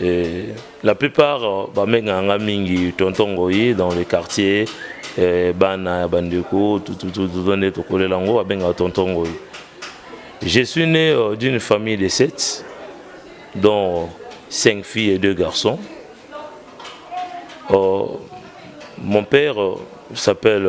Et la plupart euh, bamenganga mingi tonton ngoyi dans le quartier euh, bana ya bandeko tututututo nde tokolela yango babengaka tonton ngoyi je suis né euh, d'une famille de sept dont cinq filles et deux garçons euh, mon père s'appelle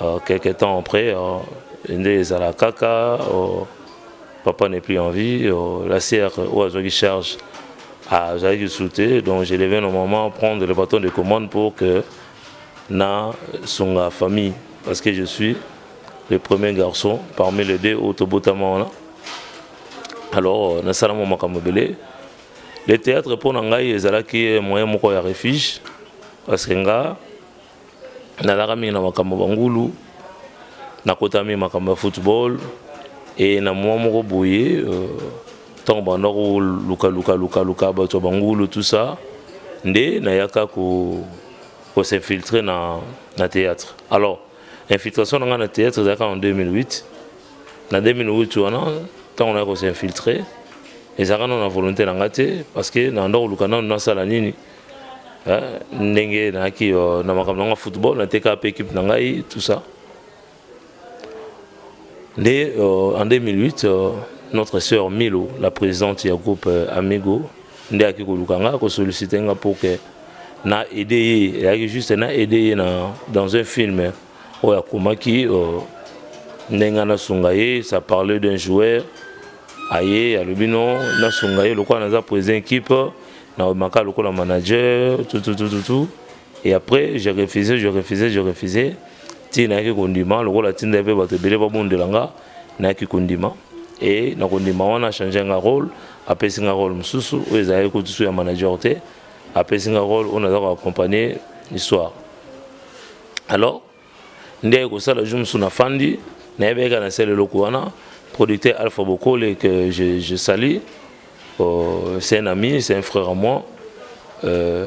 Uh, quelque temps après, uh, nde ezala kaka uh, papa n'est plus en vie, uh, la sœur oyo azwaki charge azalaki lisusu te, donc je devais normalement prendre le bâton de commande pour que na sunga famille, parce que je suis le premier garçon parmi les deux oyo tobotama wana. Alors euh, nasala mwa makambo ebele. Le théâtre mpo na ngai ezalaki moyen moko ya refuge, parce que nga nazalaka mingi na makambo ya bangulu nakotaka mingi makambo ya football e na mwa moko boye euh, ntango euh, banda kolukalukalukaluka bato ya bangulu tout ça nde nayaka kosinfiltre na, na théâtre alors infiltration na ngai na théâtre ezalaka en 2008 na 2008 wana ntango naya kosinfiltre ezalaka nano na volonté na ngai te parce que nanda koluka nano nasala nini ndenge nayaki euh, na makambo nanga football nateka mpe équipe na ngai tout ça nde euh, en 2008 euh, notre sœur milo la présidente ya groupe amigo nde ayaki koluka ngai kosollicite nga mpo ke na aide ye eyaki juste na aide ye na dans un film eh. oyo akomaki euh, ndenge nasunga ye ça parlait d'un joueur aye alobi no nasunga ye lokola naza président équipe naomaka lokola manager tout tout tout tout tout et après je refusais je refusais je refusais ti nayaki kondima lokola atindaki mpe bato ebele babondela nga nayaki kondima e na kondima wana achange nga rôle apesi nga rôle mosusu oyo ezalaki kutusu ya manager te apesi nga rôle oyo naza koaccompagne histoire alors nde ekosala jour mosusu nafandi nayebaki kaka nasala eloko wana producteur alpha bokole que je, je salie euh, c'est un ami c'est un frère à moi euh,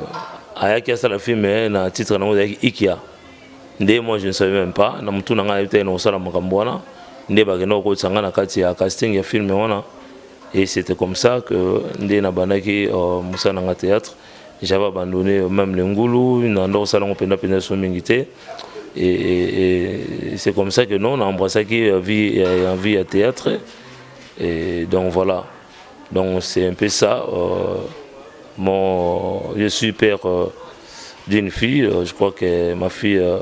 ayaki asala film eh, na titre nango ezalaki ikia nde moi je ne savais même pas na motu na ngai nayebi te nakosala makambo wana nde bakenda kokotisa ngai na kati ya casting ya film wana et c'était comme ça que nde nabandaki euh, mosala na ngai théâtre J'avais abandonné même le ngulu, na ndoko sala ngo penda penda so mingi te. Et, et, et c'est comme ça que non, on a embrassé qui a vie, a vie à théâtre. Et donc voilà. Donc c'est un peu ça. Euh, mon, je suis père euh, d'une fille. Euh, je crois que ma fille euh,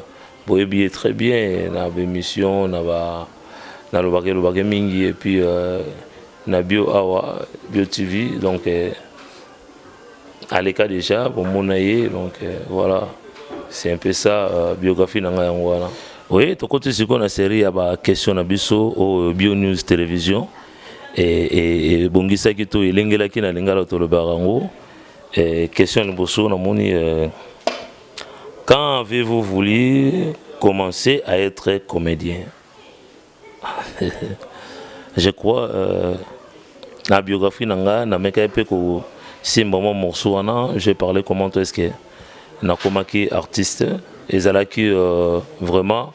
boyebi très bien. Na émission, na ba, na lobake lobake mingi et puis euh, na bio awa bio TV. Donc euh, aleka dejà bomona ye donc euh, voilà c'est un peu ça euh, biographie na ngai yango wana oui tokoti sikoyo na série ya baquestion na biso oyo bio news télévision ebongisaki to elengelaki na lingala tolobaka yango question liboso namoni euh, quand avez-vous voulu commencer à être comédien je crois euh, na biographie na nga namekaki mpe kosimba mwa morceau wana je parle comment est ce que nakomaki artiste ezalaki euh, vraiment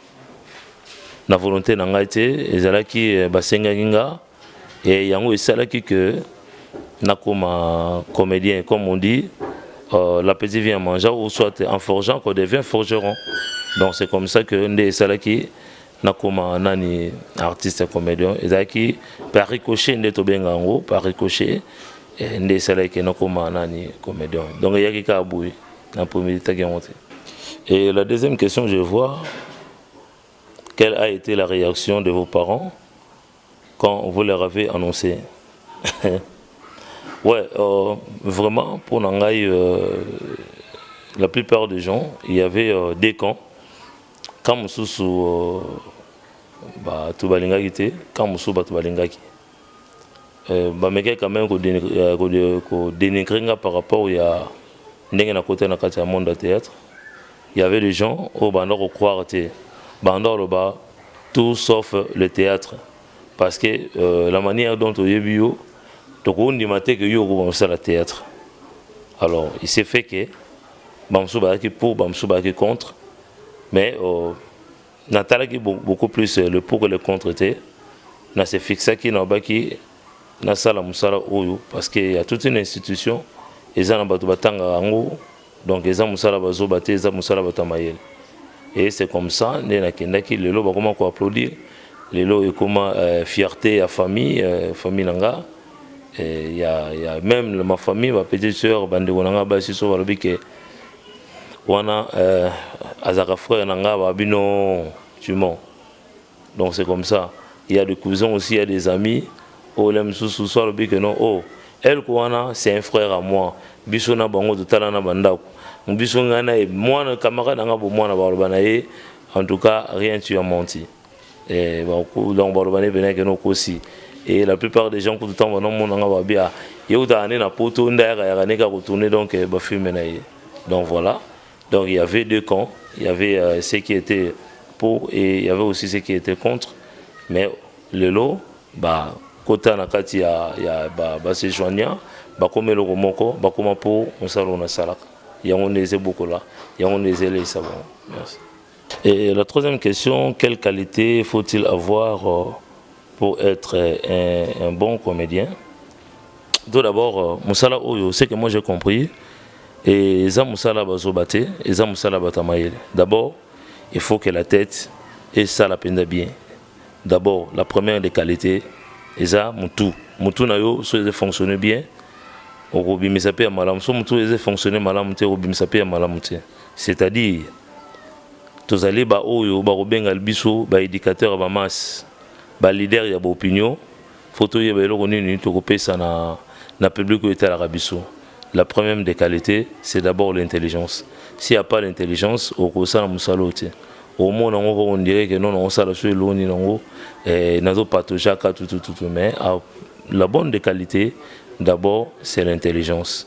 na volonté na ngai te ezalaki euh, basengaki nga e yango esalaki que nakoma comédien comme on dit euh, l'appétit vient en mangeant ou soit en forgeant qu'on devient forgeron donc c'est comme ça que nde esalaki nakoma nani artiste comedian ezalaki par ricochet nde tobenga yango par ricochet eh, nde esalaki ke nakoma nani comedian donc eyaki kaka boye na premier etaki yango te et la deuxième question je vois quelle a été la réaction de vos parents quand vous leur avez annoncé ouais euh, vraiment pour nangai euh, la plupart des gens il y avait euh, des camps Camp mosusu bato balingaki te, camp mosusu bato balingaki. Euh, bamekaki quand même kodenigre euh, nga par rapport ya ndenge na kota na kati ya monde ya théâtre. Il y avait des gens oyo banda kokroire te, banda koloba tout sauf le théâtre parce que euh, la manière dont oyebi yo tokondima te ke yo okobongisala théâtre alors il s'est fait que bamosusu bazalaki pour bamosusu bazalaki contre mais euh, natalaki beaucoup plus euh, le pour que le contre te na se fixaki nalobaki nasala mosala oyo parce que ya toute une institution eza na bato batangaka yango donc eza mosala bazoba te eza mosala bato ya mayele et c'est comme ça nde nakendaki lelo bakoma koapplaudir lelo ekoma euh, fierté ya famille euh, famille na nga ya ya meme ma famille ba petite sœur bandeko na ngai basi so balobi ke wana euh, azaka frère na ngai ba bino tu mens donc c'est comme ça il y a des cousins aussi il y a des amis oyo la mosusu so alobi ke non oh elko wana c'est un frère à moi biso na bango totala na bandako biso ngai na ye mwana camarade na ngai bomwana baloba na ye en tout cas rien tu as menti Eh, donc baloba nde mpena ekende okosi et la plupart des gens kutu ntango banomona nga babia ye kutaka nde na poto nde ayakayaka nde kaka kotourne donc eh, bafilme na ye donc voilà donc il y avait deux camps il y avait euh, ceux qui étaient pour et il y avait aussi ceux qui étaient contre mais lelo ba kota na kati ya, ya ba, ba se joigna bakoma eloko moko bakoma mpo mosala oyo nasalaka yango nde eza ebokola yango nde eza eleisa bango merci Et la troisième question, quelle qualité faut-il avoir euh, pour être euh, un, un bon comédien Tout d'abord, euh, Moussala Oyo, c'est que moi j'ai compris, et Eza Moussala Bazobate, Eza Moussala Batamaïl. D'abord, il faut que la tête et ça la peine bien. D'abord, la première des qualités, Eza Moutou. Moutou Nayo, ça fonctionne bien, okobimisa mpe ya malamu so motu eza fonctionne malamu te okobimisa mpe ya malamu te C'est-à-dire, tozali ba oyo ba kobengal biso ba educateurs ya ba masse, ba leaders ya ba opinions, faut toyeba eloko nini toko pesa na na public oyo etalaka biso. La première des qualites, c'est d'abord l'intelligence. S'il n'y a pas l'intelligence, okosala musala oyo te. omona yango kaka ondire ke nono osala so eloko nini yango eh, nazopatogaka tutututu mais ah, la bonne de qualité d'abord c'est l'intelligence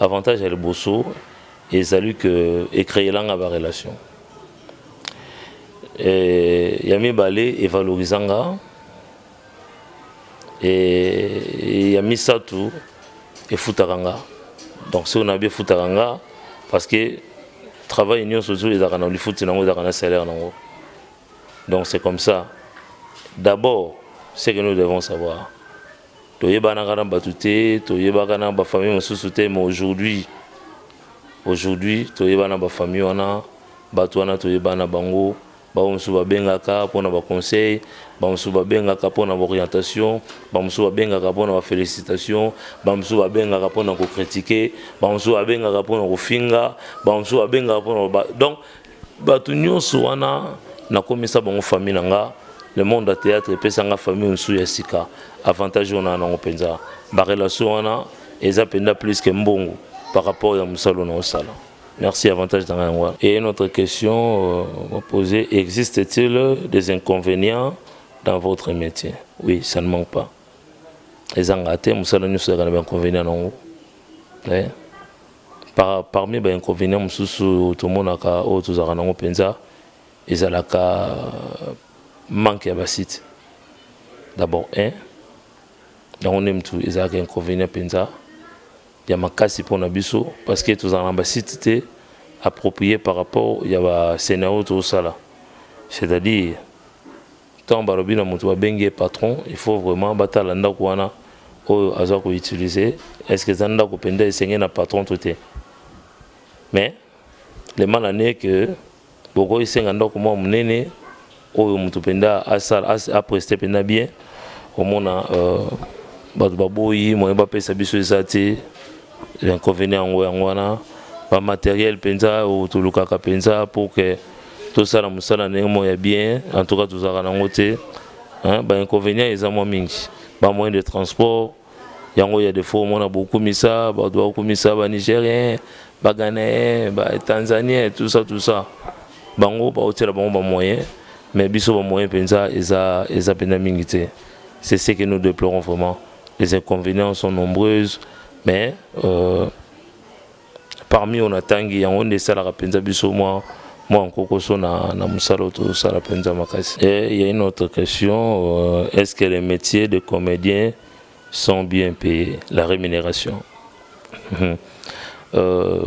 avantage ya liboso ezali ke ecreela nga ba relation e, ya mibale evaloriza nga e, ya misato efutaka nga donc soki nayebi efutaka nga parce que travail nyonso ozo ezalaka na lifuti nango ezalaka na salaire nango donc c'est comme ça d'abord ce que nous devons savoir Toyebanaka na batu te, toyebaka na ba famille mosusu te mais aujourd'hui aujourd'hui toyebana na ba famille wana batu wana toyebana na bango bango mosusu babengaka mpona ba conseil bango mosusu babengaka mpona ba orientation bango mosusu babengaka mpona ba félicitation bango mosusu babengaka mpona kokritike bango mosusu babengaka mpona kofinga bango mosusu babengaka mpona donc Bato nyonso wana nakomisa bango famille na nga. Le monde ya theatre epesa nga famille mosusu ya sika. Avantage oyo naa nango mpenza. Ba relation wana eza mpenza plus que mbongo par rapport ya mosala oyo naosala. Merci avantage na nga yango wana. Et une autre question euh, poser, existe-t-il des inconvénients dans votre métier? Oui, ça ne manque pas. Ezanga te, mosala nyonso ezalaka na ba inconvénients na yango. Eh? Parmi ba inconvenients mosusu tomonaka oyo tozalaka nango mpenza ezalaka manque ya ba sites d'abord un yango nde mutu ezalaka inconvenient mpenza ya makasi mpo na biso parce que tozalaka na ba sites te approprié par rapport ya ba scenario tozosala c'est-à-dire Tango balobi na mutu babengi ye patron il faut vraiment batala ndaku wana oyo aza ko utiliser est ce que eza ndaku penza esengeli na patron to te mais le mal en est que bokoki senga ndaku mwa munene oyo mutu penza asala apreste penza bien omona euh, bato baboyi moye bapesa biso eza te L'inconvenient yango yango wana ba matériel mpenza oyo tolukaka mpenza pour que tosala mosala ndenge moko ya bien en tout cas tozalaka nango te ba inconvenient eza mwa mingi ba moyen de transport yango ya defo omona bokumisa bato bakumisa ba nigérien ba ghanéen ba tanzanien tout ça tout ça bango baotiela bango ba moyen mais biso ba moyen mpenza eza eza mpenza mingi te c'est ce que nous déplorons vraiment Les inconvénients sont nombreuses, mais euh, parmi on atangi yango nde esalaka mpenza biso mwa mwa nkokoso na, na mosala oyo tozosala mpenza makasi. Et il y a une autre question, euh, est-ce que les métiers de comédien sont bien payés, la rémunération euh,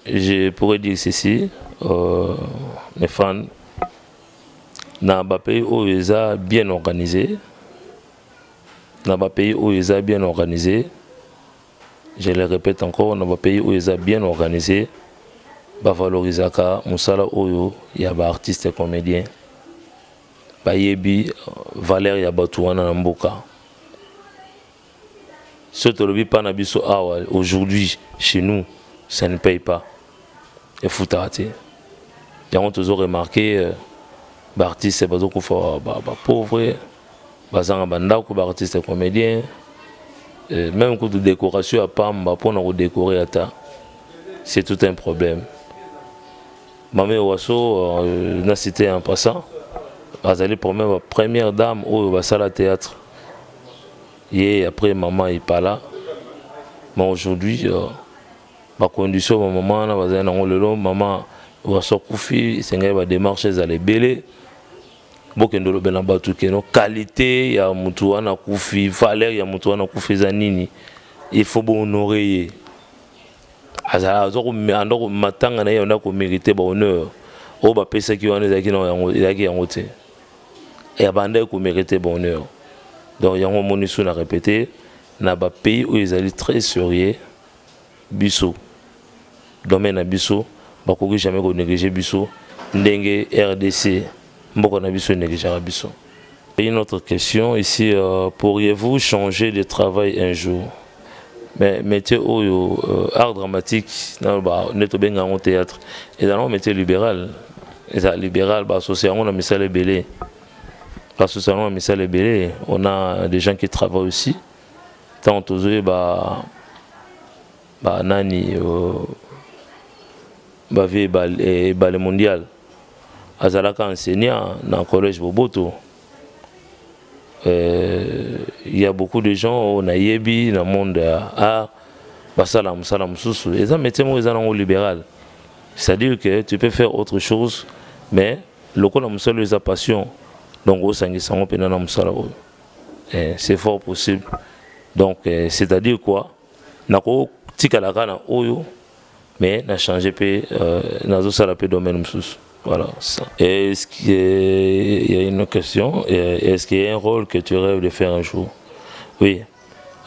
Je pourrais dire ceci, euh, mes fans, na bapays oyo eza bien organisé na ba pays oyo eza bien organise je le répète encore na ba pays oyo eza bien organise bavalorisaka mosala oyo ya baartiste comédien bayebi euh, valeur ya bato wana na mboka soki tolobi mpa na biso awa aujourd'hui chez nous ça ne paye pas efutaka te yango tozo remarke euh, baartiste bazokufa bapauvre ba, ba bazanga ba ndako ba artiste comedien euh, même kutu décoration ya pamba pona ko décorer ata c'est tout un problème mame waso euh, na cité en passant azali problème ba première dame oyo basala théâtre ye après maman ipala mais aujourd'hui euh, ba condition ba maman wana bazali nango lelo maman waso akufi esengeli ba démarche ezala ebele bokende olobela na bato keno kalite ya motu wana akufi valeur ya motu wana akufi eza nini il faut bohonore ye azalaka matanga na ye yanda komérite bahonneur oyo bapesaki wana ezalaki na yango ezalaki yango te ya banda ye komérite bahonneur donc yango omoni su na répété na bapays oyo ezali très sérieux biso domaine na biso bakoki jamais ko négliger biso ndenge rdc mboka na biso enegligeaka biso une autre question ici euh, pourriez-vous changer de travail un jour mais métier oyo euh, art dramatique naloba nde tobenga yango théâtre eza nango métier libéral eza libéral basosi yango na misala ebele basosi yango na misala ebele on a des gens qui travaillent aussi ntango tozoyeba banani euh, bavie ebale, eh, ebale mondial azalaka enseignant na collège boboto euh, il y a beaucoup de gens oyo oh, nayebi na monde ya art basala mosala mosusu eza métier moko eza nango libéral c'est-à-dire que tu peux faire autre chose mais lokola mosala oyo eza passion donc osangisa yango mpenza na mosala oyo Eh, c'est fort possible. Donc, eh, c'est-à-dire quoi Nako tikala kana oyo, mais na changer pe, euh, nazo sala pe domaine msusu. Voilà. Est-ce qu'il y, y a une question eh, Est-ce qu'il y a un rôle que tu rêves de faire un jour Oui.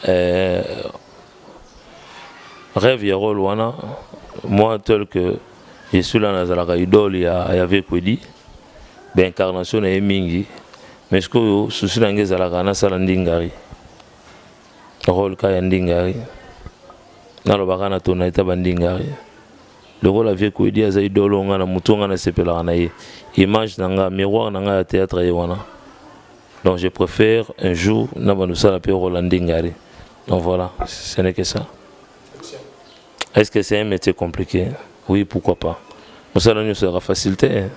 Euh, rêve ya rôle wana, moi tel que je suis là nazalaka idole ya, ya Vekwedi, ben incarnation na ye mingi, mais sikoyo susi na ngai ezalaka nasala ndingari role ka ya ndingari nalobaka na tona eta bandingari lokola vie koedi aza idole oyo ngai na motu ngai nasepelaka na ye image na ngai miroir na ngai ya théâtre ye wana donc je préfère un jour na bando sala mpe role ya ndingari donc voilà ce n'est que ça est ce que c'est un métier compliqué oui pourquoi pas mosala nyonso yaka facilité hein?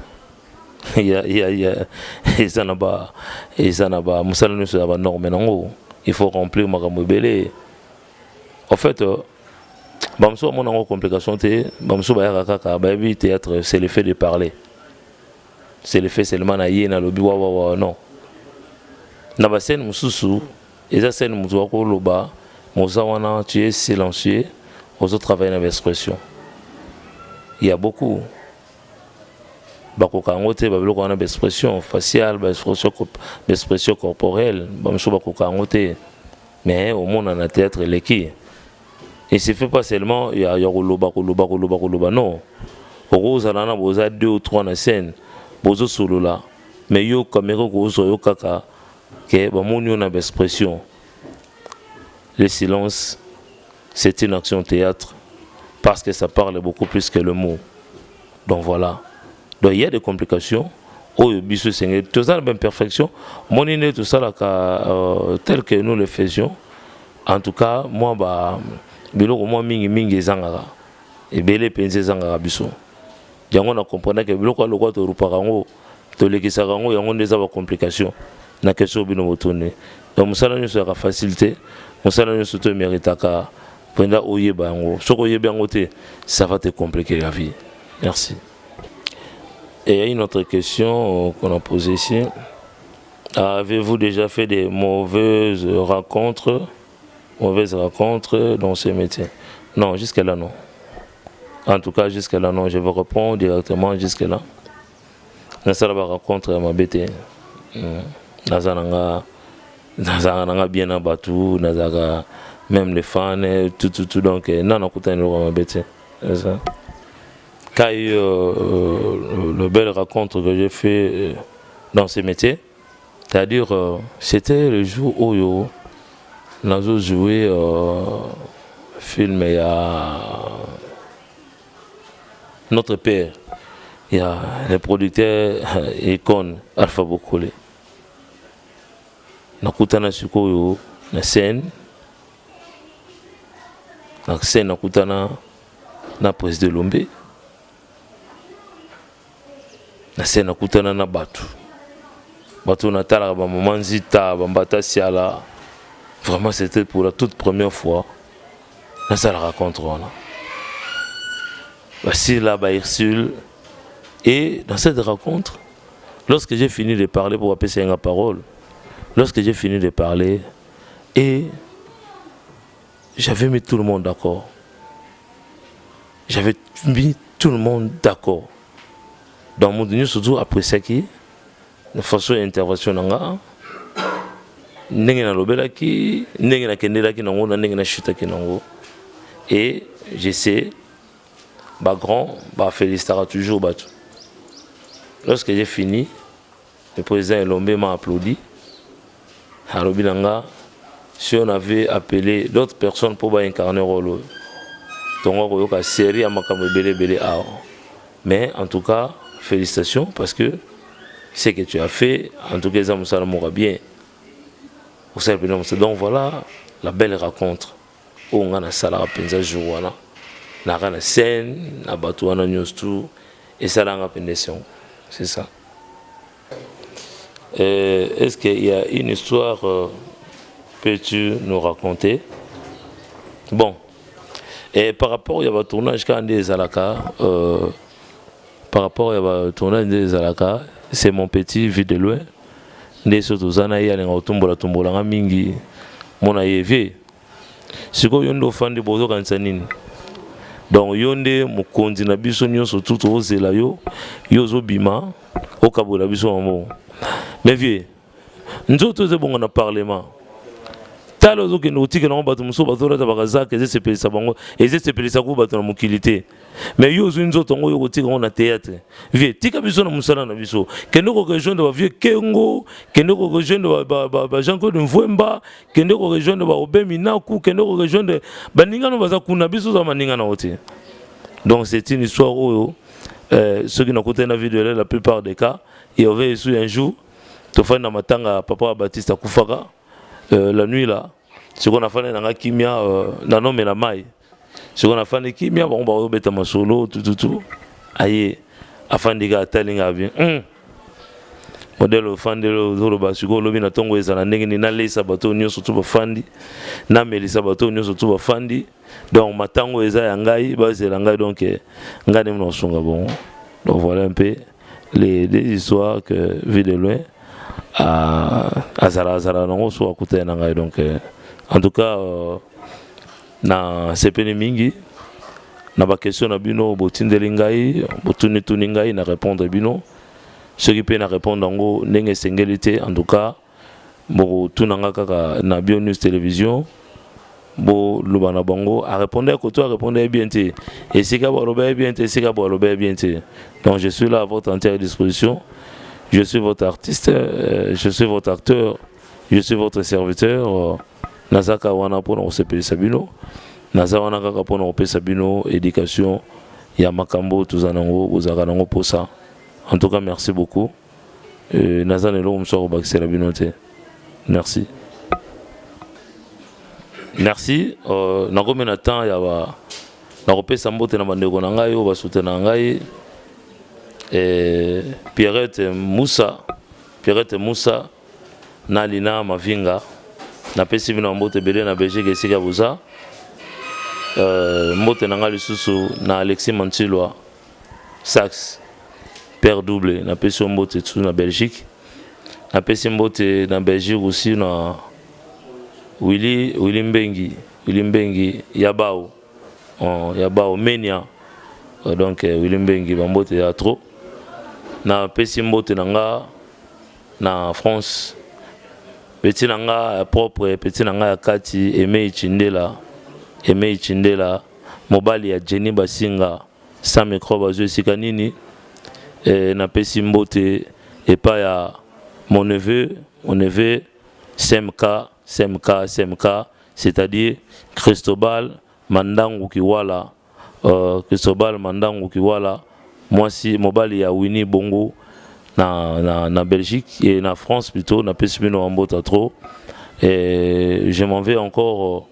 ya ya ya eza na ba eza na ba musala nyonso ya ba norme nango il faut remplir makambo ebele en fait euh, bamosusu bamona yango complication te bamosusu bayaka kaka bayebi théâtre c'est le fait de parler c'est le fait seulement na ye nalobi wawawa non na bascène mosusu eza scène moto akoloba moza wana tu es silencieux ozotravaille na baexpression ya beaucoup bakoka yango te babiloko wana baexpression faciale baexpression corporelle bamosusu bakoka yango te mais omona na théâtre eleki il suffit pas seulement ya, ya koloba koloba koloba koloba non okozala na boza deux ou trois na scène bozosolola mais yo kamere okozwa yo kaka ke bamoni yo na baexpression Le silence, c'est une action théâtre parce que ça parle beaucoup plus que le mot. Donc voilà. Donc il y a des complications. Oyo biso senge, tout ça même perfection. Mon inné tout ça là euh, tel que nous le faisions. En tout cas, moi bah biloko moi mingi mingi ezangaka. Ebele penze ezangaka biso. Yango na comprendre que biloko lokwa to rupaka ngo. tolekisaka yango yango nde eza ba complication na question oyo bino botuni donc mosala nyonso yaka facile te mosala nyonso to emeritaka mpenza oyeba yango soki oyebi yango te ça va te compliquer la vie merci et une autre question qu'on a posée ici avez-vous déjà fait des mauvaises rencontres mauvaises rencontres dans ce métier non jusqu'à là non En tout cas, jusque là, non, je vous réponds directement jusque là. Na sala ba rencontre ya mabe te. Hmm. Naza na nga nazalaka na nga bien na bato nazalaka même les fans eh, tout tout tout donc eh, na nakutani eloko mabe te eza quand il y a eu euh, euh, le belle rencontre que j'ai fait euh, dans ce métier C'est-à-dire, euh, c'était le jour où yo, nazo joué euh, film et à notre père, il y a le producteur icône Alpha Bokole. Nakutana sikoyo na scène, na scène nakutana na président Lombe. na se nakutana na bato bato natalaka bamama nzita bambata siala vraiment c'était pour la toute première fois nasala racontre wana basila baursule et dans cette rencontre lorsque j'ai fini de parler pour apesa ye nga parole lorsque j'ai fini de parler et J'avais mis tout le monde d'accord. J'avais mis tout le monde d'accord. Donc mon Dieu surtout après ça qui na façon ya intervention na nga ndenge nalobelaki ndenge nakendelaki nango na ndenge nashutaki nango et je sais bagrand bafélistaka toujours bato lorsque j'ai fini Le president Elombe m'a applaudi. Alobi na nga, si on avait appelé d'autres personnes mpo ba incarner role oyo, tongo akoyoka série ya makambo ebele ebele awa. Mais en tout cas, félicitations parce que ce que tu as fait, en tout cas eza mosala moko ya bien. Osala mpenza mosala. Donc voilà la belle rencontre. oyo nga nasalaka mpenza jour wana naka na scène na bato wana nyonso tu esalanga mpenza esengo c'est ça euh, est ce qu'il y a une histoire euh, peux tu nous raconter bon et par rapport ya batournage kaka nde ezalaka euh, par rapport ya ba tournage nde ezalaka c'est mon petit vue de loin nde so toza na ye alinga kotumbola tumbola nga mingi mona ye vie sikoyo yo nde ofandi bozokanisa nini donc yo nde mokonzi na biso nyonso tu tozela yo yo ozobima okabola biso yango mais vie nzoto ezo bonga na parlement tala ozokende kotikela yango bato mosusu bazolata bakazaka ezesepelisa bango ezesepelisa kuku bato na mokili te mais yo ozwi nzoto yango oyo kotika yango na théâtre vie tika biso na mosala na biso kende korejoindre bavieux kengo kende korejoindre bajean claude mvwemba kende korejoindre baobe minaku kende korejoindre baninga no baza kuna biso oza baninga na yo te donc c'est une histoire oyo euh, soki nakutani na video la plupart des cas il y aurait su un jour tofandi na matanga ya papa batiste akufaka euh, la nuit là sikoyo nafandi na nga kimia euh, nanomela mai sikoyo nafandi kimia bango bakobeta masolo tututu aye afandi ka atali nga bien mm. modele ofandeli ozoloba sikoyo olobi na ntongo ezala ndenge nini naleisa bato nyonso tu bafandi namelisa bato nyonso tu bafandi donc matango eza ya ngai bazela ngai donc eh, ngai nde mna kosunga bongo donc voilà un peu les deux histoires que vu de loin ah, azala azala nango so akutana na ngai donc euh, en tout cas euh, na sepeli mingi na bakestion na bino botindeli ngai botunituni ngai na répondre bino soki mpe na répondre yango ndenge esengeli te en tout cas Boko tuna nga kaka na Bio News Television bo loba na bango a répondre ya koto a répondre ya bien te esika bo aloba ya bien te esika bo aloba ya bien te donc je suis là à votre entière disposition je suis votre artiste euh, je suis votre acteur je suis votre serviteur euh, naza kaka wana mpona kosepelisa bino naza wana kaka mpona kopesa bino éducation ya makambo tozala nango bozalaka nango mposa en tout cas merci beaucoup Euh, naza na eloko mosusu akobakisela bino te merci merci euh, nakomi na temps ya ba nakopesa mbote na bandeko na ngai oyo basutena ngai eh, pierrette musa pierrette musa na lina mavinga napesi bino mbote ebele na belgique esika boza euh, mbote na ngai lisusu na alexis mantilwa Sax père double na pesi yo mbote tu na Belgique na pesi mbote na Belgique aussi na Willy Willy Mbengi Willy Mbengi ya bao oh, ya bao Menia euh, donc euh, Willy Mbengi ba mbote ya trop na pesi mbote na nga na France petit na nga propre petit na nga ya kati Aimé Chindela Aimé Chindela Mobali ya Jenny Basinga sans microbe azwi esika nini? Eh, napesi mbote epai ya mon neveu, mon neveu SMK, SMK, SMK, c'est-à-dire Cristobal Mandangu Kiwala, euh, Cristobal Mandangu Kiwala, mwasi mobali ya Winnie Bongo na, na, na Belgique et na France plutôt, napesi bino mbote trop. Et je m'en vais encore euh,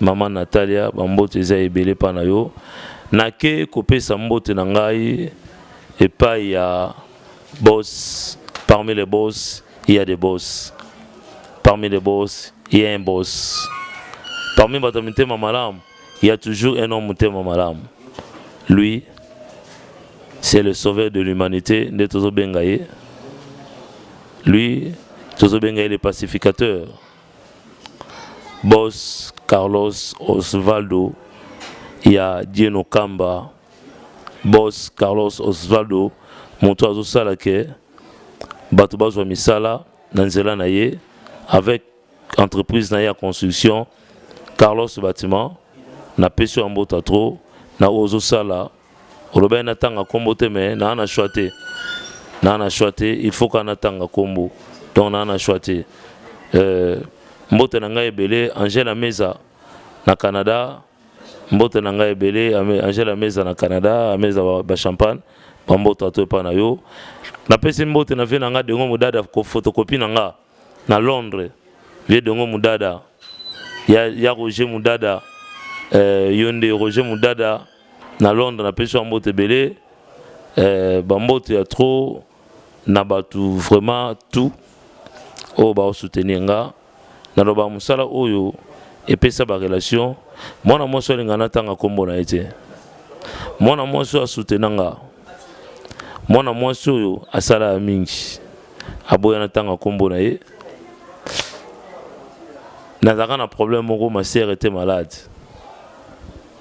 Maman Natalia, ba mbote eza ebele pa na yo. Nake kopesa mbote na ngai epai ya boss, parmi les boss, il y a des boss. Parmi les boss, il y a un boss. Parmi bato ya mitema malamu, il y a toujours un homme motema malamu. Lui, c'est le sauveur de l'humanité, nde tozobenga ye. Lui, tozobenga ye le pacificateur. Boss Carlos Osvaldo ya Dieno Kamba Boss Carlos Osvaldo moto azosala ke bato bazwa misala na nzela na ye avec entreprise na ye ya construction Carlos Bâtiment napesi yo ya mbota trop na oyo ozosala Olobaki natanga kombo te mais naa na choix te. Naa na choix te, il faut kaka natanga kombo. Donc naa na choix te. Euh, mbote na ngai ebele Angela Meza na Canada. Mbote na ngai ebele Angela Meza na Canada, Meza ba, ba champagne. Ba mbote ato epa na yo. Napesi mbote na vie na nga dengo modada ko photocopie na nga. na Londres vieux Dongo Mudada ya, ya Roger Mudada euh, yo nde Roger Mudada na Londres na pesi mbote ebele euh, bambote ya trop na bato vraiment tout oyo baosoutenir nga naloba mosala oyo epesa barelation mwana mwasi oyo alinga natanga nkombo na ye te mwana mwasi oyo asoutenanga nga mwana mwasi oyo asalaka mingi aboya natanga nkombo na ye nazalaka na problème moko ma sœur était malade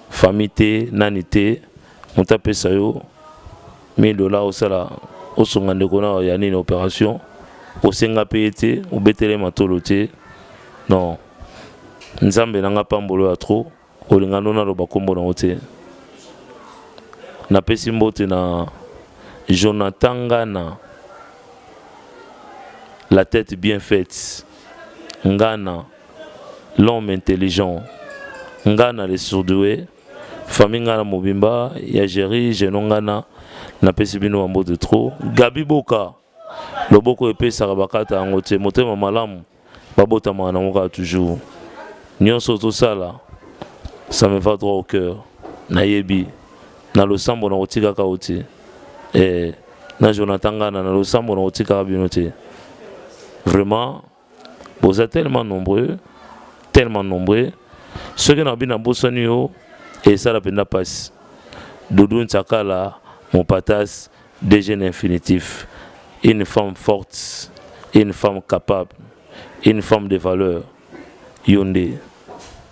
famille te nani te moto apesa yo 1000 dollars osala osunga ndeko na ya nini opération osenga mpe ye te obetele matolo te non nzambe na nga pambolo ya trop Olinga no naloba kombo nango te. Napesi mbote na Jonathan Ngana la tete bien faite, Ngana l'homme intelligent, Ngana le sourdoue, famille Ngana mobimba ya Jerry Geno Ngana napesi bino ba mbote trop. Gaby Boka. Loboko epesaka bakata yango te motema malamu babotamaka nango kaka toujours nionso ozosala ça me va droit au cœur nayebi na losambo nakotikaka yo te eh, na Jonathan Ngana na losambo nakotikaka bino te vraiment boza tellement nombreux tellement nombreux soki na bina bosani yo esala mpenza mpasi doudou nsakala mopatas dg na infinitif une femme forte une femme capable une femme de valeur yo nde